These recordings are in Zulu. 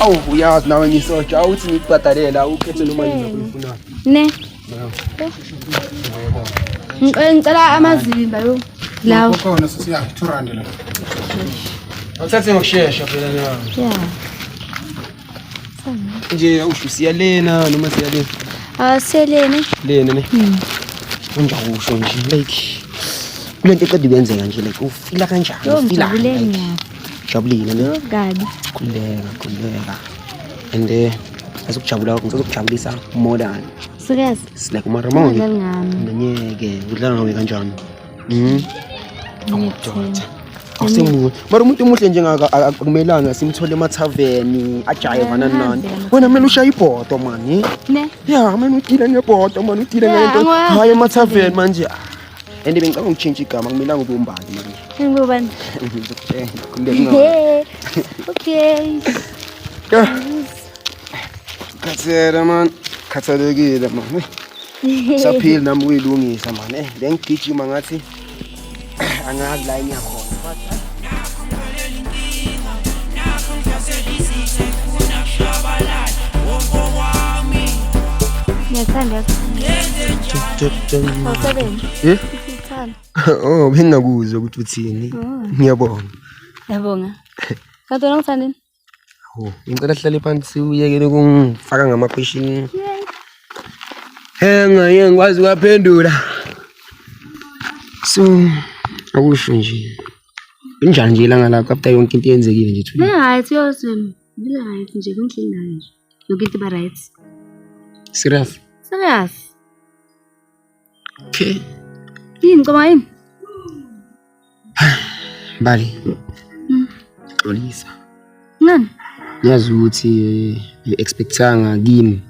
awu uyazi nawe ngisotsha awuthi ngikubhadalela ukhethe noma yini oyifunayo ne ngicela amazimba yo lawo khona sisiya 200 la Awuthathe ngokushesha phela nawe. Yeah. nje usho siya lena noma siya lena ah siya lena lena ne hmm. unja usho nje like kulento eqeda kwenzeka nje like ufila kanjani ufila jabulile ne kabi kuleka kuleka and eh azokujabula kwakho ngizokujabulisa more than serious sileke umaramoni ngeke udlala ngawe kanjani Mhm. Awudoda. Awusemuhle. Mara umuntu omuhle njengaka a- akumelanga simthole emathaveni ajayevana nani. Wena mina ushaya ibhodo mani. Ne? Ya, mina udile ngebhodo mani udile Ya, ngento. angikwazi. Hayi emathaveni manje. And bengicabanga ukutshintsha igama akumelanga ube umbali manje. Ngubani? Ngizokutshela. Khululeka ungawa. Yeah. Okay. Yeah. Khathele man. Khathalekile man. saphili nami kuyilungisa mani eh bengigijima ngathi angazi la enyakhona Ngiyathanda. Wasebenza. Eh? Ngithanda. Oh, bengingakuzwa ukuthi uthini. Ngiyabonga. Yabonga. Kanti wena ungithandini? Oh, ngicela sihlale phansi uyekele ukungifaka ngamapheshini. Henga ye ngikwazi kwaphendula. So akusho nje. Injani nje ilanga lakho after yonke into yenzekile nje thula. Right yosem. Ngila right nje kunhlini nayo nje. Yonke into ba right. Serious. Serious. Okay. Yini ngicabanga yini? Mbali. Mm. Xolisa. Ngani? Ngiyazi ukuthi eh, expectanga kimi.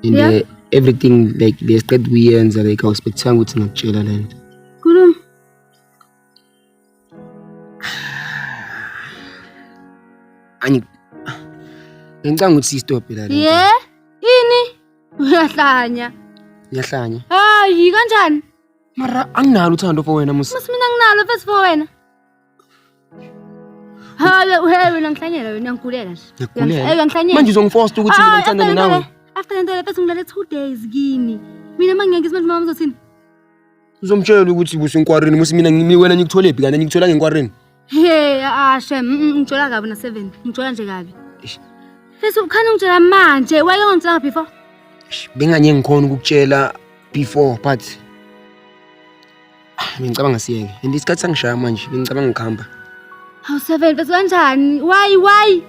And yeah. uh, everything like besiqeda kuyenza like awuspectanga ukuthi ngakutshela lento. Angi Ngicanga ukuthi stop la. Ye? Ini? Uyahlanya. Uyahlanya. Hayi kanjani? Mara anginalo uthando for wena musa. Musa mina nginalo fesi for wena. Hayi uhe wena ngihlanyela wena ngikulela nje. Ngikulela. Eyo ngihlanyela. Manje uzongifosta ukuthi mina ngithandane nawe. After lento le fesi ngilale 2 days kini. Mina mangeke ngizimanje mama uzothini? uzomtshela ukuthi busenkwareni musi mina ngi- wena ngikuthole phi kanti ngikuthola ngenkwareni Hey, ah shem, mm, mm, ngithola kabi na 7. Ngithola nje kabi. Eish. Fesi ukhana ungitshela manje, wake ungitshela before. Eish, benganye ngikhona ukukutshela before but Ah, bengicabanga siyeke and isikhathi sangishaya manje bengicabanga ngikuhamba Hawu 7, fesi kanjani? Why, why?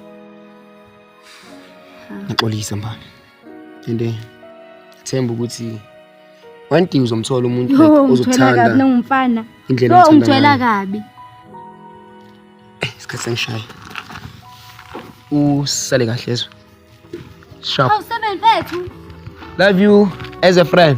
ngaxolisa mbana and eh, themba ukuthi one day uzomthola umuntu like Yo, ungithwela ozokuthanda kabi nangumfana. indlela Yo, othanda ungithwela ngayo. kabi. isikhathi sengishaya usale kahle ezwe sharp Hawu seven mfethu. love you as a friend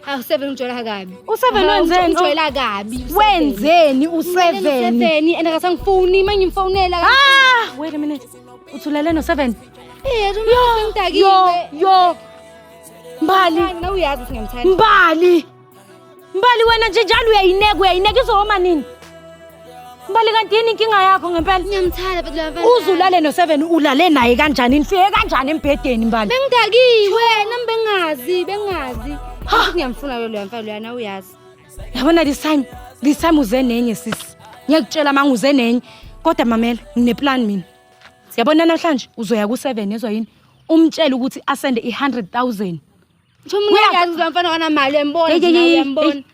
Hawu seven ujwayela kabi. U7 wenzeni? Ujwayela kabi. u-seven. Wenzeni Mina u7? no-seven, and akasangifuni manje ngimfonela. Ah, wait a minute. Uthulele no7. Eh, Yo, yo, ngidakile. yo. Mbali, Mina uyazi ukuthi ngiyamthanda. Mbali. Mbali wena nje njalo uyayineka, uyayineka izohoma nini? Mbali kanti yini inkinga yakho ngempela? Ngiyamthanda but laba. Uzulale no 7 ulale naye kanjani? Nifike kanjani embhedeni mbali? Bengidakiwe, nami bengazi, bengazi. Futhi ngiyamfuna ke loya mfana loyana uyazi. Yabona this time, this time uze nenye sisi. Ngiyakutshela manga uze nenye. Kodwa mamela, ngineplan mina. Siyabona namhlanje uzoya ku 7 yezwa yini? Umtshele ukuthi asende i 100,000.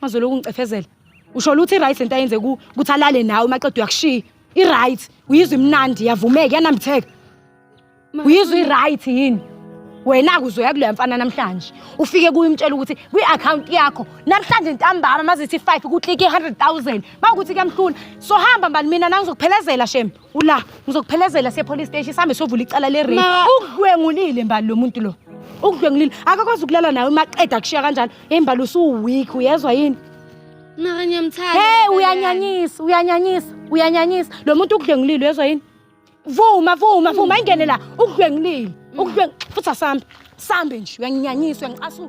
mazoloku ngicefezela usho luthi i-right lento ayenze ku ukuthi alale nawe maqeda uyakushiya i-right uyizwa imnandi yavumeka yanambitheka uyizwa i-right yini wena-ke uzoya kuleya mfana namhlanje ufike kuye umtshela ukuthi kwi-akhawunti yakho namhlanje ntambama mazithi five kuklike i-hundred thousand uma ukuthi kuyamhlula sohamba mbani mina nangizokuphelezela shembe ula ngizokuphelezela sepolice station sihambe sovula icala le rape Ma- ukudlwengulile mbali lo muntu lo ukudlwengulile akakwazi ukulala nawe maqeda kushiya kanjalo hey mbali usuweak uyezwa yini Mara ngiyamthanda. hey umfana uyanyanyisa uyanyanyisa uyanyanyisa lo muntu ukudlwengulile uyezwa yini vuma vuma vuma ingene la ukudlwengulile ukudlweng futhi asambe sambe nje uyanginyanyisa uyangiqasula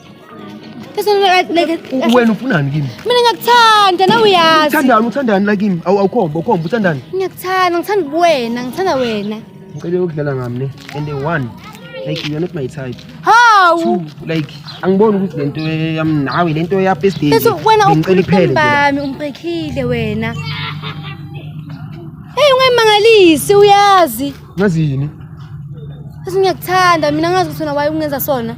Wena ufunani kimi? Mina ngiyakuthanda nawe uyazi. Uthandani uthandani la kimi? Awu awukhomba ukhomba uthandani? Ngiyakuthanda ngithanda kuwena ngithanda wena. Ngicela ukudlala ngami ne and the one like you're not my type. How? Two like angiboni ukuthi lento yami nawe lento ya best day. Bese wena uphele bami umbrekhile wena. Hey ungayimangalisi uyazi. Ngazi yini? Sisi ngiyakuthanda mina ngazi ukuthi wena waye ungenza sona.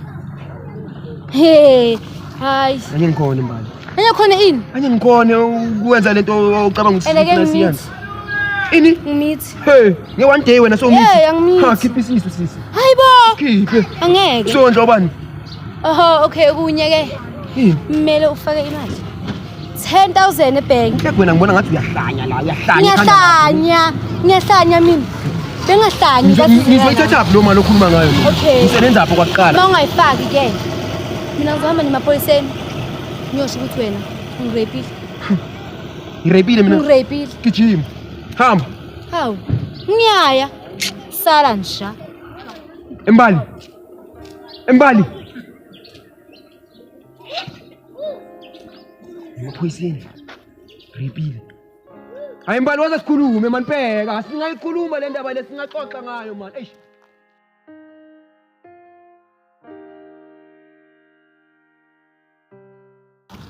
Hey, hayi. Anye ngikhona mbali. Anye khona ini? Anye ngikhona ukwenza lento ocabanga ukuthi Eleke ngimithi. siyani. Ini? Ngimithi. Hey, nge one day wena so Hey, ngimithi. angimithi. Ha, khipha isisu sisi. Hayi bo. Khiphe. Angeke. Sondla obani? oho okay okunye ke Yini? kumele ufake imali 10000 ebhenki Ke wena ngibona ngathi uyahlanya la, uyahlanya. ngiyahlanya ngiyahlanya mina bengahlanyi Ngizo- kathi Ngizoyithatha phi lo mali okhuluma ngayo? mina? Okay. Ngisebenza apho kwakuqala. uma ungayifaki ke mina ngizohamba nemapoliseni ngiyosho ukuthi wena ungirepile Ngirepile mina. ungirepile Gijima. Hamba. hawu ngiyaya sala nja Embali. Embali. Ngiphoyiseni. Ripile. Hayi mbali waze sikhulume man bheka asingayikhuluma le ndaba lesingaxoxa ngayo man. Eish.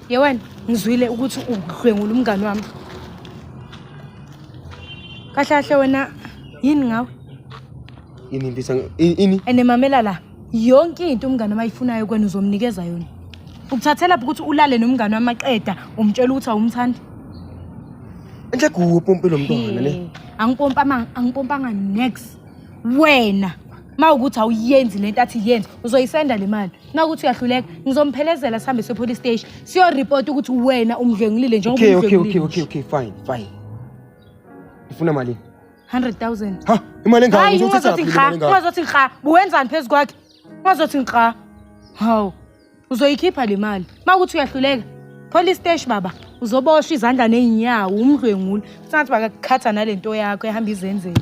ye wena ngizwile ukuthi udlwengula umngani wami kahle kahle wena yini ngawe yini impisa ini and mamela la yonke into umngane mayifunayo kwena uzomnikeza yona ukuthathela phi ukuthi ulale nomngane wamaqeda umtshela ukuthi awumthandi enhle kuwe pompe lo mntwana ne angipompama angipompanga next wena mawukuthi awuyenzi lento athi yenze uzoyisenda le mali uma ukuthi uyahluleka ngizomphelezela sihambe sepolice station siyoripota ukuthi wena umdlwengulile njengoba okay okay okay umdlwengulile okay okay fine fine ifuna malini 100000 ha imali engaka hayi ngizothatha ungazothi lapha imali ngikha engaka ungazothi ngikha buwenzani phezu kwakhe ungazothi ngikha hawu uzoyikhipha le mali uma ukuthi uyahluleka police station baba uzoboshwa izandla ney'nyawo umdlwenguli kusangathi bakakukhatha nale nto yakho ehamba izenzela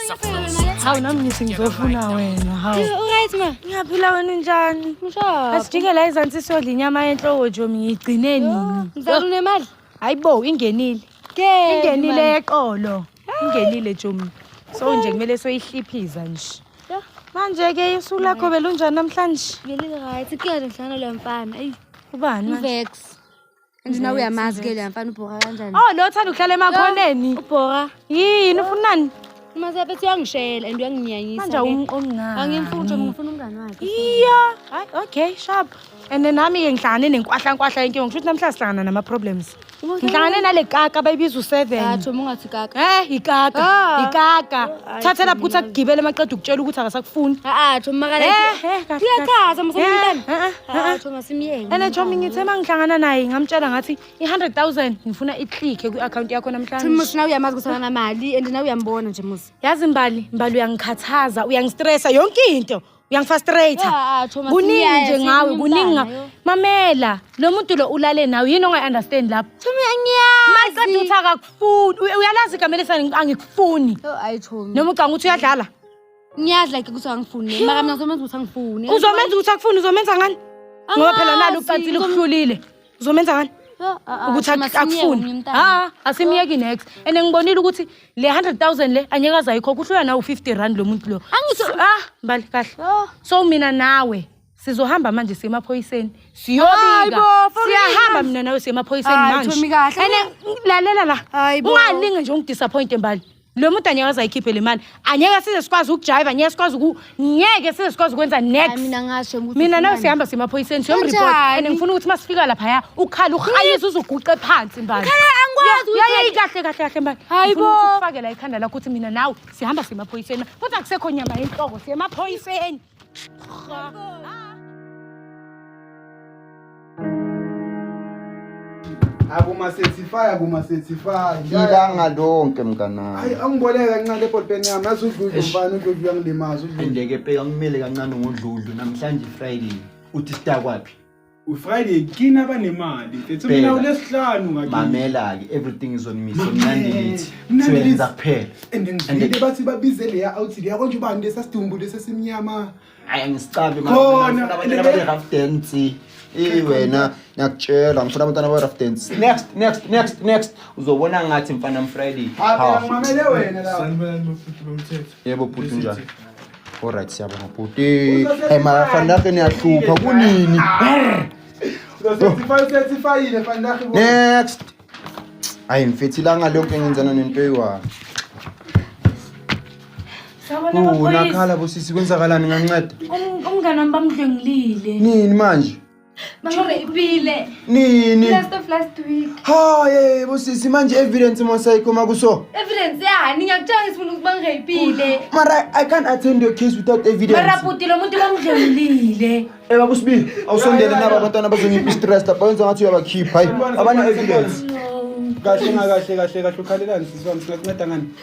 hawu nami ngithi ngizofuna wena hawu right ma ngiyaphila wena unjani asijike la izansi siyodla inyama yenhloko nje ngiyigcine nini mzala unemali hayi bo ingenile ingenile yeqolo ingenile jomi so nje kumele soyihliphiza nje manje ke isu lakho belunjani namhlanje ngeli right kuyona nhlana lo mfana eyi ubani mvex Nje nawe uyamazi ke leya mfana ubhora kanjani? Oh lo thanda ukuhlala emakhoneni. Ubhora. Yini ufunani? Uma sephethe uyangishela and uyanginyanyisa. Manje awumqomi ngani? Angimfuthi ngifuna umngani wakhe. Iya. Hayi okay sharp. And nami ke ngihlangane nenkwahla nkwahla yenkinga ngisho ukuthi namhla sihlangana nama problems. Ngihlangane nale kaka bayibiza u7. Thatha uma ungathi kaka. Eh ikaka. Ah. Ikaka. Oh, Thathela ukuthi akugibele maqeda ukutshela ukuthi akasakufuni. Ah ah thuma kale. Eh eh. Uyachaza msebenzi. Eh, eh, eh. Ah, ene chomi ngithe uma ngihlangana naye ngamtshela ngathi i-hundred thousand ngifuna itlike kwi-akhawunti yakho namhlanje nawe uyamazi ukuthi anamali and nawe uyambona nje musi yazi mbali mbali uyangikhathaza uyangistressa yonke into uyangifastrata ah, ah, kuningi nje ngawe kuningi mamela lo muntu lo ulale nawe yini ongayi-understand lapho thomi angiyazi uthi akakufuni uyalazi igama lesani angikufuni noma ucanga ukuthi uyadlala ngiyazi like ukuthi angifuni Yho. maka mina uzomenza ukuthi angifuni uzomenza ukuthi akufuni uzomenza ngani ngoba phela nalo ucansile ukuhlulile uzomenza ngani ukuthi ak- akufuni ha asimyeki next and ngibonile ukuthi le 100000 le anyeke azayikhokha uhlula nawu 50 rand lo muntu lo Angisho- So- ah mbali kahle so mina nawe sizohamba manje siye emaphoyiseni siyobika siyahamba mina nawe siye emaphoyiseni manje ene lalela la ungalinge nje ungidisappointe mbali lo muntu anyeke azayikhiphe le mali anyeke size sikwazi ukujayiva anyeke sikwazi uku ngeke size sikwazi ukwenza next mina ngasho ukuthi mina nawe sihamba semaphoyiseni siyomreport and ngifuna ukuthi masifika lapha ya ukhala ukhayisa uzoguqe phansi mbali angikwazi ukuthi kahle kahle kahle mbali hayibo ukufakela ikhanda lakho ukuthi mina nawe sihamba semaphoyiseni kodwa kusekho nyama yenhloko semaphoyiseni akumasetifaya kumasetifaya ilanga lonke mnganami hayi angiboleke kancane ebholpeni yami yazi udludlu mfana udludlu uyangilimaza udludlu andeke pe angimele kancane ngodludlu namhlanje friday uthi sitakwaphi ufriday kini abanemali mfethu mina ulesihlanu mamela-ke everything is on me so mnandilithiwenza kuphela and ngivile bathi babize leya outhi leya konje ubani lesasidumbu lesesimnyama hayi angisicabi rough dance eyi wena ngiyakutshela ngifuna abantwana be-rough dance next next next next uzobona ngathi mfana mfriday mamele wena la sanibona bafuthu bomthetho Yebo bhuti unjani? Alright siyabonga bhuti. Hey mara fanake niyahlupha kunini? Next. Hayi mfethi langa lonke engenzana nento eyiwani. Sawona Oh, maphoyisa. nakhala bosisi kwenzakalani nganceda? Um- Umngane wami bamdlwengulile. Nini manje? Mama ipile. Nini? Last of last week. Ha ye busisi manje evidence mosayikho makuso. Evidence yani ngiyakutshela ngisifuna ukuba ngiyipile. Mara I can't attend your case without evidence. Mara puti lo muntu bamdlulile. Eh bakusibili awusondele naba abantwana bazongipa stress lapha wenza ngathi uyabakhipha hayi abana evidence. Kahle ngakahle kahle kahle ukhalelani sisi wami singakunceda ngani?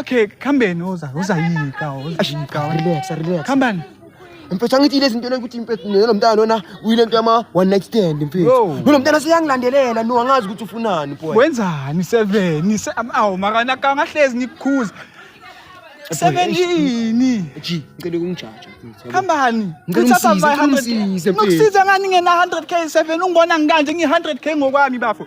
Okay, khambeni uza uzayika uzayika. Relax, relax. Khambani. Mfethu angithi lezi zinto ukuthi mfethu nelo mntana lona uyile nto yama one night stand mfethu. Nolo mntana seyangilandelela no angazi ukuthi ufunani boy. Wenzani 7? Awu makana kangahlezi nikukhuza. Seven yini? G, ngicela ukungijaja mfethu. Khambani. Ngicela usize ngani ngena 100k 7 ungibona ngikanje ngi 100k ngokwami bafo.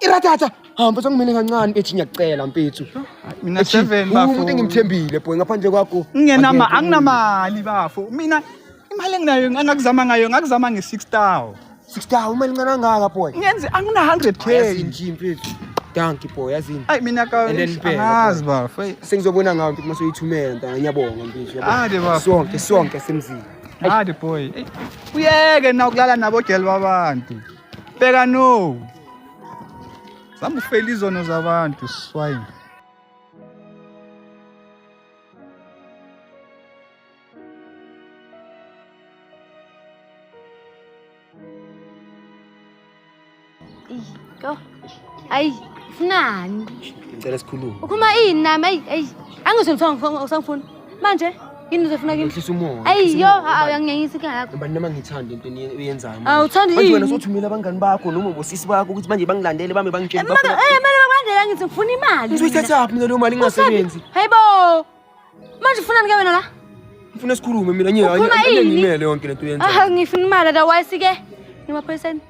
irathatha hamba sangimele kancane ethi ngiyakucela mpethu mina Ethi, seven uwumuntu bafo engimthembile boy ngaphandle kwakho ngingenama Angeke. anginamali bafo mina imali enginayo angakuzama ngayo ngakuzama nge-six tow six dawu imali incane angaka boy ngenze angina-hundred k yazini nje mpethu danki boy yazini ayi mina ka And then bheka, angazi bafo eyi. sengizobona ngayo mpethu mase uyithumela ntanga ngiyabonga mpethu yabona. Ade bafo. sonke sonke semzini Hadi boy. Ey, Uyeke na ukulala nabogel babantu. Bheka no. Zama ufela izono zabantu swine. Go. Ayi, funani. Ngicela sikhulume. Ukhuluma ini nami? Ayi, ayi. Angisho lutho ngisangifuna. Manje yini uzofuna kimi? Ngihlisa umoya. Ayi, yo, awuyangiyangisa ikhaya yakho. Ngibani noma ngithanda into uyenzayo. Awuthandi yini? Manje wena sothumela abangani bakho noma ubosisi bakho ukuthi manje bangilandele bame bangitshele bakho. Eh, manje bangandela ngithi ngifuna imali. Uzoyithatha phi leyo mali ingasebenzi? Hayibo. Manje ufuna nike wena la? Ngifuna sikhulume mina nje ngimele yonke lento yenza. Ah ngifuna imali da wayisi ke. Ngimaphoyiseni.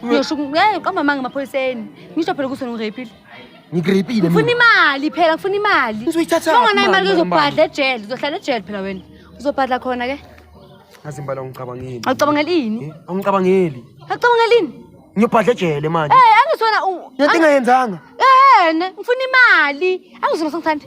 Ngisho ngeke qamba manga ngimaphoyiseni. Ngisho phela ukuthi ngirepile. Ngirepile mina. Ngifuna imali phela ngifuna imali. Ngizoyithatha. Unganayo imali uzobhadla ejele uzohlala ejele phela wena. Uzobhadla khona ke. Azimbala ngicabangeli. Awucabangeli yini? Eh, Awucabangeli. Awucabangeli yini? Ngiyobhadla ejele manje. Eh angisona. Ngiyathi ngayenzanga. Eh ngifuna imali. Angisona sengithanda.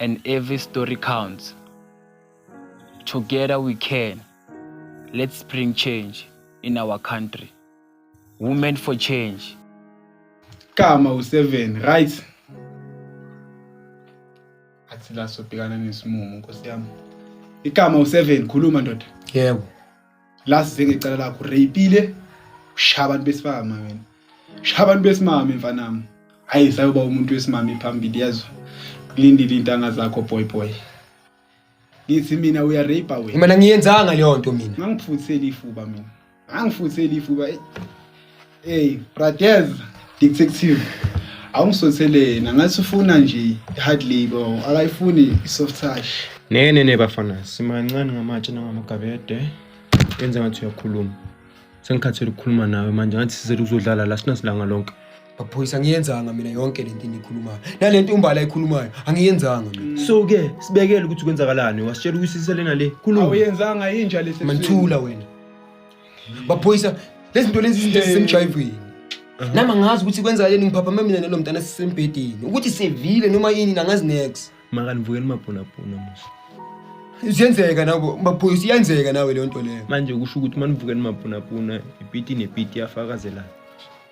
and every story counts. Together we can. Let's bring change in our country. Women for change. Kama u7 right? Athi la sobhekana nesimumu nkosi yami. Ikama u7 khuluma ndoda. Yebo. last venge icala lakho rapile shaya abantu besifama wena shaya abantu besimame mfanami hayi sayoba umuntu wesimame phambili yazo kulindile intanga zakho boy boy ngithi mina uya rape wena mina ngiyenzanga leyo nto mina ngangifutheli ifuba mina ngangifutheli ifuba Hey, Pradev, detective. Awungisotheleni, ngathi ufuna nje hard labor, akayifuni soft touch. Ne ne ne bafana, simancane ngamatshe nangamagabede. Yenza ngathi uyakhuluma. Sengikhathele ukukhuluma nawe manje, ngathi sizele ukuzodlala la sinasilanga lonke. Baphoyisa angiyenzanga mina yonke le nto eniyikhulumayo. Nale nto umbala ayikhulumayo angiyenzanga mina. So ke sibekele ukuthi kwenzakalani, wasitshela ukuthi siselena le. Khuluma. Awuyenzanga yinja lesi. Manithula wena. baphoyisa lezi zinto lezi izinto ezisemjayivweni nami angazi ukuthi kwenzakaleni ngiphaphame mina nalo mntana sisembhedeni ukuthi sevile noma yini nangazi next makanivukeli mabhonabhona musa ziyenzeka nabo baphoyisa iyenzeka nawe leyo nto leyo manje kusho ukuthi manivukeni mabhonabhona ipiti nepiti yafakazelana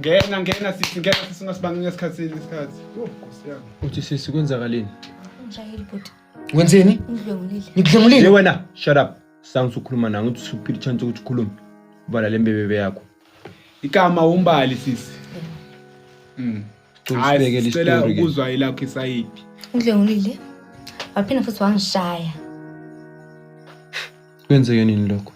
Ngena ngena sisi ngena sisi ungasibangela isikhathi isikhathi. Yho Nkosi yami. Uthi sisi kwenzakaleni? Ngishayile bhuti. Wenzeni? Ngidlwengulile. Hey Ngikudlengulile. wena, shut up. Sangisa ukhuluma nawe ukuthi usuphile chance ukuthi ukhulume. Ubala lembebebe yakho. Igama umbali sisi. Mm. Cela Hayi, usibekele sicela isitori ke. ukuzwa ilakho isayidi. Ngidlwengulile. Waphinde futhi wangishaya. Kwenzeke nini lokho?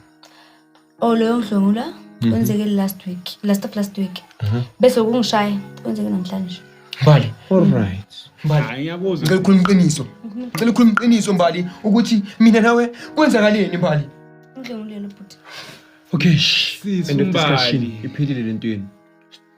oh leyo ngihlomula mhm. kwenzeke last week last of last week mhm. bese kungishaya kwenzeke namhlanje mbali alright mbali ngiyakuzwa ngicela ukukhuluma iqiniso ngicela ukukhuluma iqiniso mbali ukuthi mina nawe kwenzakaleni mbali ngihlomuleni bhuti okay end of discussion iphilile lentweni